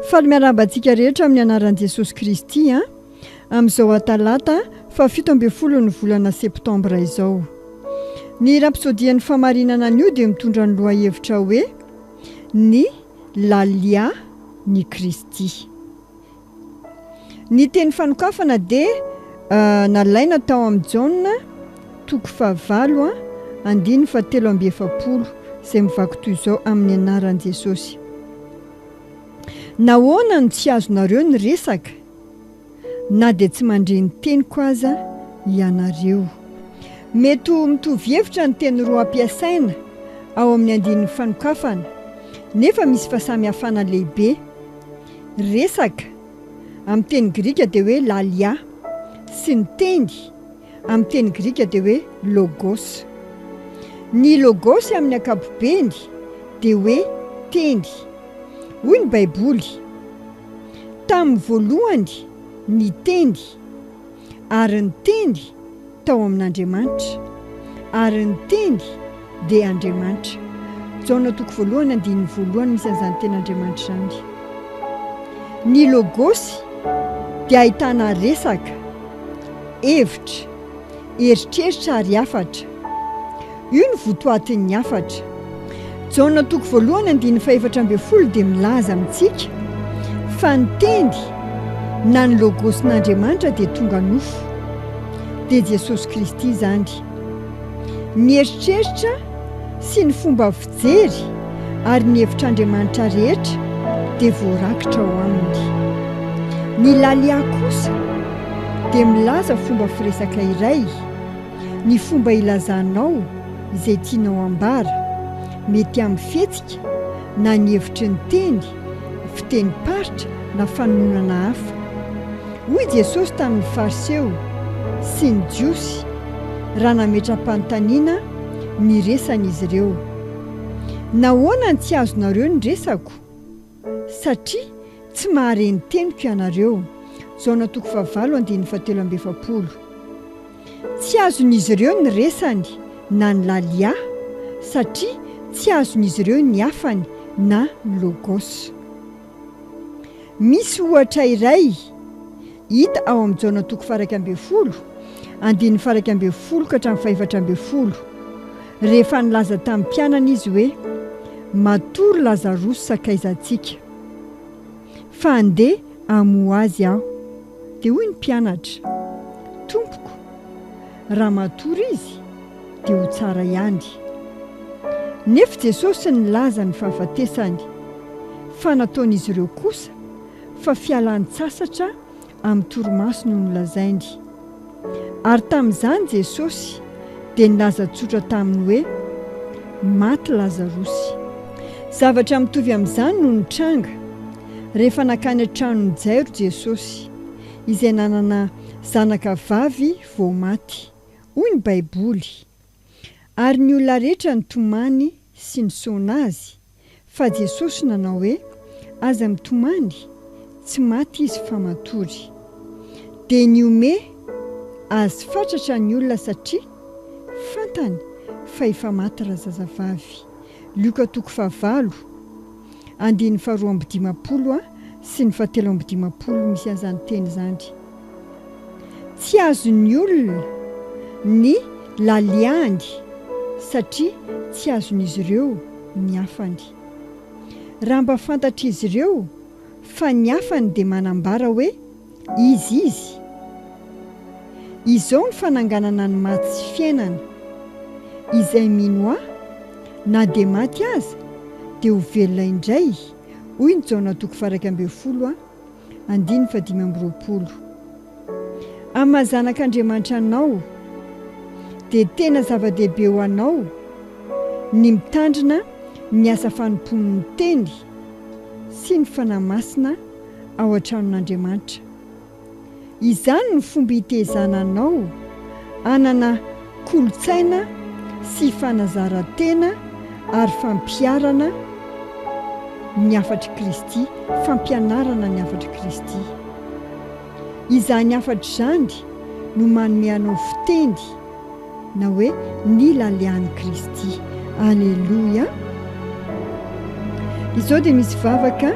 Faly miarahaba antsika rehetra amin'ny anaran'i Jesosy Kristy an! Amin'izao Atalata fahafito ambin'ny folon'ny volana Septambra izao. Ny rapisodian'ny famarinana anio dia mitondra ny lohahevitra hoe Ny Lalià n'i Kristy. Ny teny fanokafana dia nalaina tao amin'ny Jaona toko fahavalo a, andininy fahatelo amby efapolo, izay mivaky toy izao amin'ny anaran'i Jesosy, Nahoana no tsy azonareo ny resaka, na dia tsy mandre ny teniko aza ianareo? Mety ho mitovy hevitra ny teny roa ampiasaina ao amin'ny andininy fanokafana, nefa misy fahasamihafana lehibe. Resaka, amin'ny teny grika dia hoe lallia, sy ny teny, amin'ny teny grika dia hoe logos. Ny logos amin'ny ankapobeny dia hoe teny. Hoy ny Baiboly, Tamin'ny voalohany ny Teny. Ary ny Teny tao amin'Andriamanitra, ary ny Teny dia Andriamanitra. Jaona toko voalohany andininy voalohany misy an'izany teny Andriamanitra izany. Ny Logosy dia ahitana resaka, hevitra, eritreritra ary hafatra. Io no votoatin'ny hafatra. Jaona toko voalohany andininy fahefatra ambin'ny folo dia milaza amintsika fa ny Teny na ny Logosn'Andriamanitra dia tonga nofo. Dia Jesosy Kristy izany. Ny eritreritra sy ny fomba fijery ary ny hevitr'Andriamanitra rehetra dia voarakitra ao Aminy. Ny Lalya kosa dia milaza fomba firesaka iray. Ny fomba ilazanao izay tianao hambara, mety amin'ny fihetsika na ny hevitry ny teny, fitenim-paritra na fanononana hafa. Hoy Jesosy tamin'ny Fariseo sy ny Jiosy raha nametra-panontaniana ny resan'izy ireo, Nahoana no tsy azonareo ny resako? Satria tsy mahare ny teniko ianareo. Jaona toko fahavalo andininy fahatelo amby efapolo. Tsy azon'izy ireo ny resany na ny Lalia, satria tsy azon'izy ireo ny afany na Logos. Misy ohatra iray. Hita ao amin'ny Jaona toko faharaika ambin'ny folo, andininy faharaika ambin'ny folo ka hatramin'ny fahefatra ambin'ny folo, rehefa nilaza tamin'ny mpianany Izy hoe, Matory Lazarosy sakaizantsika, fa handeha hamoha azy Aho. Dia hoy ny mpianatra, Tompoko, raha matory izy, dia ho tsara ihany. Nefa Jesosy nilaza ny fahafatesany, fa nataon'izy ireo kosa fa fialan-tsasatra amin'ny torimaso no nolazainy. Ary tamin'izany Jesosy dia nilaza tsotra taminy hoe, Maty Lazarosy. Zavatra mitovy amin'izany no nitranga rehefa nankany an-tranon'i Jairo Jesosy, izay nanana zanaka vavy vao maty, hoy ny Baiboly. Ary ny olona rehetra nitomany sy nisaona azy. Fa Jesosy nanao hoe, Aza mitomany, tsy maty izy fa matory. Dia nihomehy Azy fatratra ny olona satria fantany fa efa maty razazavavy. Lioka toko fahavalo, andininy faharoa amby dimampolo sy ny fahatelo amby dimampolo misy an'izany teny izany. Tsy azon'ny olona ny laliany satria tsy azon'izy ireo ny afany. Raha mba fantatr'izy ireo fa ny afany dia manambara hoe izy izy. Izao ny fananganana ny maty sy fiainana, Izay mino Ahy, na dia maty aza, dia ho velona indray, hoy ny Jaona toko faha iraika ambin'ny folo a. Andininy fahadimy amby roapolo. Amin'ny maha zanak' Andriamanitra anao, dia tena zava-dehibe ho anao ny mitandrina ny asa fanompoan' ny Teny sy ny Fanahy Masina ao an-tranon' Andriamanitra. Izany no fomba hitezana anao hanana kolontsaina sy fanazaran-tena ary fampiharana ny hafatr'i Kristy, fampianarana ny hafatr'i Kristy. Izany hafatra izany no manome anao fiteny na hoe ny lalehan'i Kristy. Aleloia! Izao dia misy vavaka.